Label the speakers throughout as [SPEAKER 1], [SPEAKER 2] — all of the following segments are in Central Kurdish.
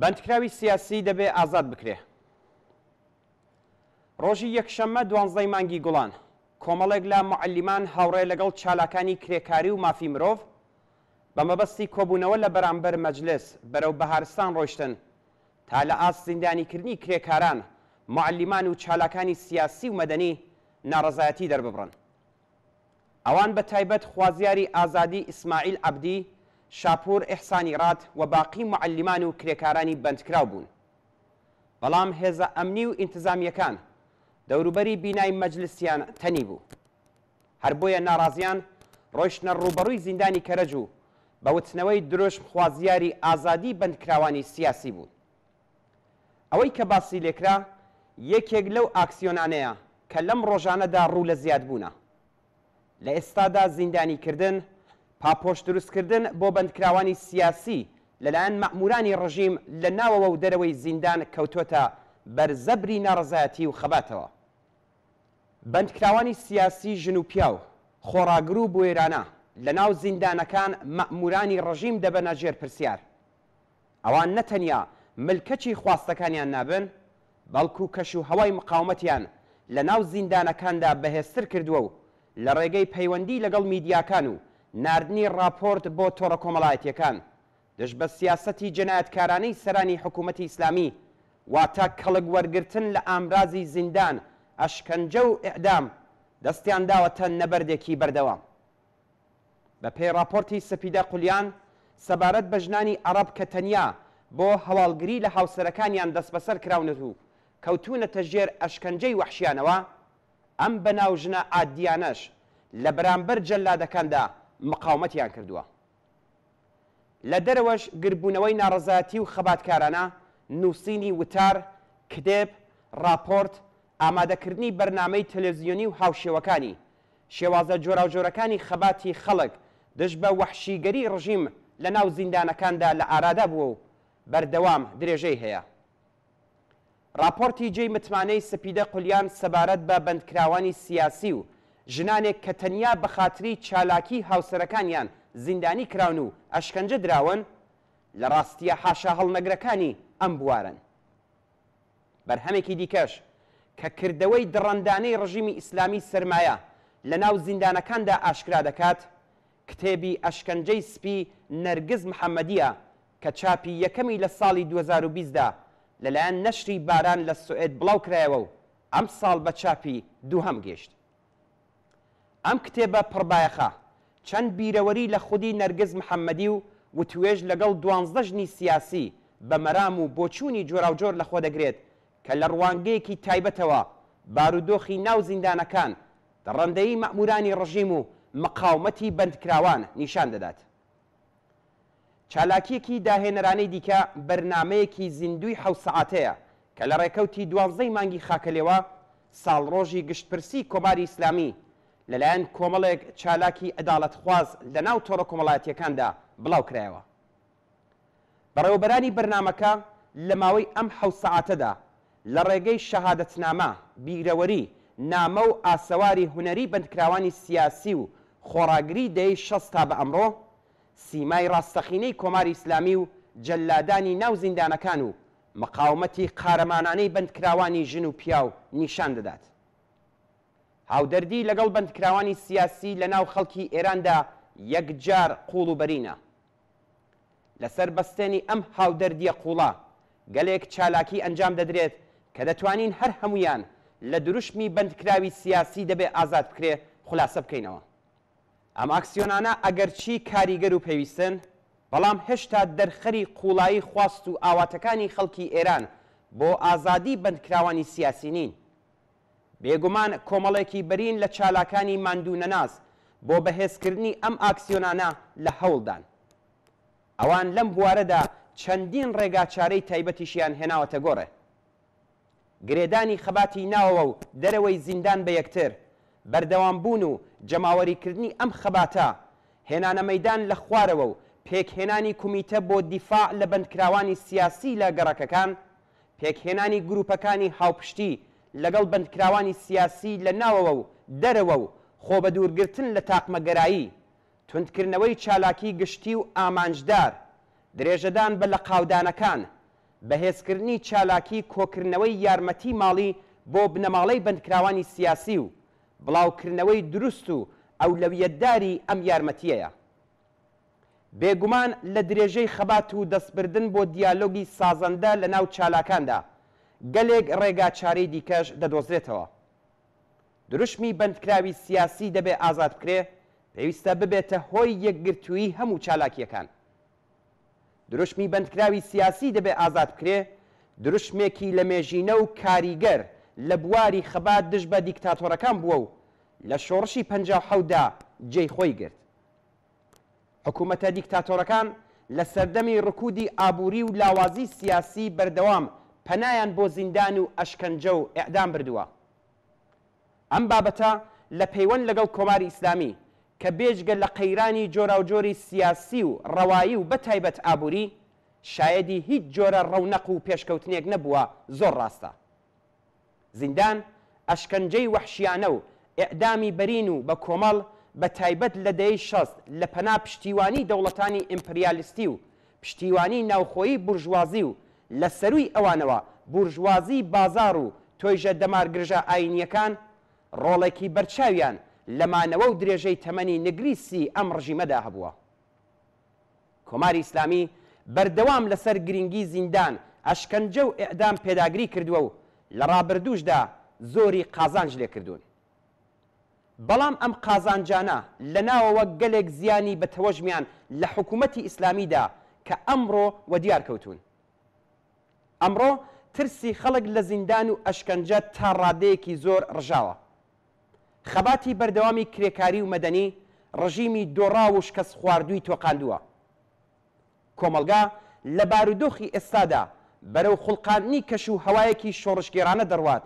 [SPEAKER 1] بەندکراوی سیاسی دەبێ ئازاد بکرێ. ڕۆژی یەکشەممە دوانزدەی مانگی گوڵان کۆمەڵێک لە معلیمان هاوڕێ لەگەڵ چالاکانی کرێکاری و مافی مرۆڤ بە مەبەستی کۆبوونەوە لە بەرامبەر مەجلس بەرەو بەهارستان ڕۆیشتن، تا لە ئاست زیندانیکردنی کرێکاران، موعەلیمان و چالاکانی سیاسی و مەدەنی ناڕەزایەتی دەرببڕن. ئەوان بە تایبەت خوازیاری ئازادی ئیسماعیل عەبدی، شاپوور ئیحسانی ڕات و باقی موعەلیمان و کرێکارانی بەندکراو بوون. بەڵام هێزە ئەمنی و ئینتزامییەکان دەوروبەری بینای مەجلسیان تەنیبوو. هەر بۆیە ناڕازیان ڕۆیشتنە ڕووبەڕووی زیندانی کەرەج و بە وتنەوەی دروشم خوازیاری ئازادی بەندکراوانی سیاسی بوون. ئەوەی کە باسی لێکرا یەکێک لەو ئاکسیۆنانەیە کە لەم ڕۆژانەدا ڕوو لە زیادبوونە. لە ئێستادا زیندانی کردن، پاپۆش دروست کردن بۆ بەندکراوانی سیاسی لەلایەن مەئموورانی ڕژیم لە ناوەوە و دەرەوەی زیندان کەوتۆتە بەر زەبری ناڕەزایەتی و خەباتەوە. بەندکراوانی سیاسی ژن و پیاو، خۆڕاگر و بوێرانە لەناو زیندانەکان مەئموورانی ڕژیم دەبەنە ژێر پرسیار. ئەوان نە تەنیا ملکەچی خواستەکانیان نابن، بەڵکوو کەش و هەوای مقاومەتیان لەناو زیندانەکاندا بەهێزتر کردووە و لە ڕێگەی پەیوەندی لەگەڵ میدیاکان و ناردنی ڕاپۆرت بۆ تۆڕە کۆمەڵایەتییەکان، دژ بە سیاسەتی جێنایەتکارانەی سەرانی حکوومەتی ئیسلامی، واتە کەڵک وەرگرتن لە ئامرازی زیندان، ئەشکەنجە و ئێعدام، دەستیان داوەتە نەبەردێکی بەردەوام. بە پێی ڕاپۆرتی سپیدە قولیان سەبارەت بە ژنانی عەڕەب کە تەنیا بۆ هەواڵگری لە هاوسەرەکانیان دەسبەسەر کراونەت و کەوتوونەتە ژێر ئەشکەنجەی وەحشیانەوە، ئەم بەناو ژنە عادییانەش لە بەرامبەر جەلادەکاندا مقاومەتیان کردووە. لە دەرەوەش گردبوونەوەی ناڕەزایەتی و خەباتکارانە، نووسینی وتار، کتێب، ڕاپۆرت، ئامادەکردنی بەرنامەی تەلەزیۆنی و هاوشێوەکانی، شێوازە جۆراوجۆرەکانی خەباتی خەڵک دژ بە وەحشیگەری ڕژیم لەناو زیندانەکاندا لە ئارادا بووە و بەردەوام درێژەی هەیە. ڕاپۆرتی جێی متمانەی سپیدە قلیان سەبارەت بە بەندکراوانی سیاسی و ژنانێک کە تەنیا بە خاتری چالاکیی هاوسەرەکانیان زیندانی کراون و ئەشکەنجە دراون، لە ڕاستییە حاشاهەڵنەگرەکانی ئەم بوارەن. بەرهەمێکی دیکەش کە کردەوەی دڕەندانەی ڕژیمی ئیسلامیی سەرمایە لەناو زیندانەکاندا ئاشکرا دەکات، کتێبی ئەشکەنجەی سپی نەرگس محەمەدییە کە چاپی یەکەمی لە ساڵی دوو هەزار و بیست دا لەلایەن نەشری باران لە سوئێد بڵاو کرایەوە و ئەمساڵ بە چاپی دووهەم گەیشت. ئەم کتێبە پڕ بایەخە، چەند بیرەوەری لە خودی نەرگس محەمەدی و وتووێژ لەگەڵ دوانزدە ژنی سیاسی بە مەرام و بۆچوونی جۆراوجۆر لەخۆ دەگرێت کە لە ڕوانگەیەکی تایبەتەوە بارودۆخی ناو زیندانەکان، دڕەندەیی مەئموورانی ڕژیم و مقاومەتی بەندکراوان نیشان دەدات. چالاکییەکی داهێنەرانەی دیکە بەرنامەیەکی زیندووی حەوت سەعاتەیە کە لە ڕێکەوتی دوانزەی مانگی خاکەلێوە، ساڵڕۆژی گشتپرسی کۆماری ئیسلامی لەلایەن کۆمەڵێک چالاکی عەداڵەتخواز لەناو تۆڕە کۆمەڵایەتییەکاندا بڵاو کرایەوە. بەڕێوەبەرانی بەرنامەکە لە ماوەی ئەم حەوت سەعاتەدا لە ڕێگەی شەهادەتنامە، بیرەوەری، نامە و ئاسەواری هونەری بەندکراوانی سیاسی و خۆڕاگری دەیەی شەست تا بە ئەمڕۆ، سیمای ڕاستەقینەی کۆماری ئیسلامی و جەلادانی ناو زیندانەکان و مقاومەتی قارەمانانەی بەندکراوانی ژن و پیاو نیشان دەدات. هاودەردی لەگەڵ بەندکراوانی سیاسی لە ناو خەڵکی ئێراندا یەکجار قووڵ و بەرینە. لەسەر بەستێنی ئەم هاودەردییە قووڵە، گەلێک چالاکی ئەنجام دەدرێت کە دەتوانین هەر هەموویان لە دروشمی بەندکراوی سیاسی دەبێ ئازاد بکرێ خولاسە بکەینەوە. ئەم ئاکسیۆنانە ئەگەرچی کاریگەر و پێویستن، بەڵام هێشتا دەرخەری قووڵایی خواست و ئاواتەکانی خەڵکی ئێران بۆ ئازادیی بەندکراوانی سیاسی نین. بێگومان کۆمەڵێکی بەرین لە چالاکانی ماندوونەناس بۆ بەهێزکردنی ئەم ئاکسیۆنانە لە هەوڵدان. ئەوان لەم بوارەدا چەندین ڕێگاچارەی تایبەتیشیان هێناوەتە گۆڕێ. گرێدانی خەباتی ناوەوە و دەرەوەی زیندان بە یەکتر، بەردەوامبوون و جەماوەریکردنی ئەم خەباتە، هێنانە مەیدان لە خوارەوە و پێکهێنانی کومیتە بۆ دیفاع لە بەندکراوانی سیاسی لە گەڕەکەکان، پێکهێنانی گرووپەکانی هاوپشتی لەگەڵ بەندکراوانی سیاسی لە ناوەوە و دەرەوە و خۆبەدوورگرتن لە تاقمەگەرایی، توندکردنەوەی چالاکی گشتی و ئامانجدار، درێژەدان بە لەقاودانەکان، بەهێزکردنی چالاکی کۆکردنەوەی یارمەتی ماڵی بۆ بنەماڵەی بەندکراوانی سیاسی و بڵاوکردنەوەی دروست و ئەولەویەتداری ئەم یارمەتییەیە. بێگومان لە درێژەی خەبات و دەستبردن بۆ دیالۆگی سازەندە لە ناو چالاکاندا، گەلێک ڕێگاچارەی دیکەش دەدۆزرێتەوە. دروشمی بەندکراوی سیاسی دەبێ ئازاد بکرێ، پێویستە ببێتە هۆی یەکگرتوویی هەموو چالاکییەکان. دروشمی بەندکراوی سیاسی دەبێ ئازاد بکرێ، دروشمێکی لەمێژینە و کاریگەر لە بواری خەبات دژ بە دیکتاتۆرەکان بووە و لە شۆڕشی پەنجا و حەوت دا جێی خۆی گرت. حکوومەتە دیکتاتۆرەکان لە سەردەمی ڕکوودی ئابووری و لاوازی سیاسی بەردەوام پەنایان بۆ زیندان و ئەشکەنجە و ئێعدام بردووە. ئەم بابەتە لە پەیوەند لەگەڵ کۆماری ئیسلامی کە بێجگە لە قەیرانی جۆراوجۆری سیاسی و ڕەوایی و بەتایبەت ئابووری، شایەدی هیچ جۆرە ڕەونەق و پێشکەوتنێک نەبووە زۆر ڕاستە. زیندان، ئەشکەنجەی وەحشیانە و ئێعدامی بەرین و بە کۆمەڵ، بە تایبەت لە دەیەی شەست لە پەنا پشتیوانیی دەوڵەتانی ئیمپریالیستی و پشتیوانیی ناوخۆیی بورژوازی و لە سەرووی ئەوانەوە بورژوازیی بازاڕ و تۆیژە دەمارگرژە ئایینییەکان ڕۆڵێکی بەرچاویان لە مانەوە و درێژەی تەمەنی نگریسیی ئەم ڕژیمەدا هەبووە. کۆماری ئیسلامی بەردەوام لەسەر گرینگی زیندان، ئەشکەنجە و ئێعدام پێداگری کردووە و لە ڕابردووشدا زۆری قازانج لێ کردوون. بەڵام ئەم قازانجانە لە ناوەوە گەلێک زیانی بە تەوەژمیان لە حکوومەتی ئیسلامی دا کە ئەمڕۆ وەدیار کەوتوون. ئەمڕۆ ترسی خەڵک لە زیندان و ئەشکەنجە تا ڕادەیەکی زۆر ڕژاوە. خەباتی بەردەوامی کرێکاری و مەدەنی ڕژیمی دۆڕاو و شکەستخواردووی تۆقاندووە. کۆمەڵگا لە بارودۆخی ئێستادا بەرەو خوڵقاندنی کەش و هەوایەکی شۆڕشگێڕانە دەڕوات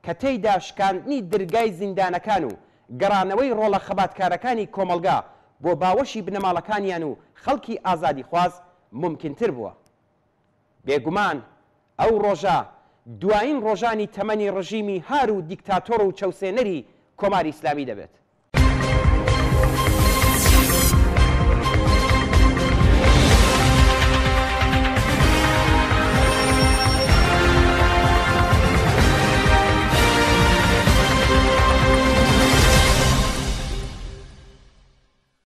[SPEAKER 1] کە تێیدا شکاندنی درگای زیندانەکان و گەڕانەوەی ڕۆڵە خەباتکارەکانی کۆمەڵگا بۆ باوەشی بنەماڵەکانیان و خەڵکی ئازادیخواز مومکینتر بووە. بێگومان ئەو ڕۆژە دوایین ڕۆژانی تەمەنی ڕژیمی هار و دیکتاتۆر و چەوسێنەری کۆماری ئیسلامی دەبێت.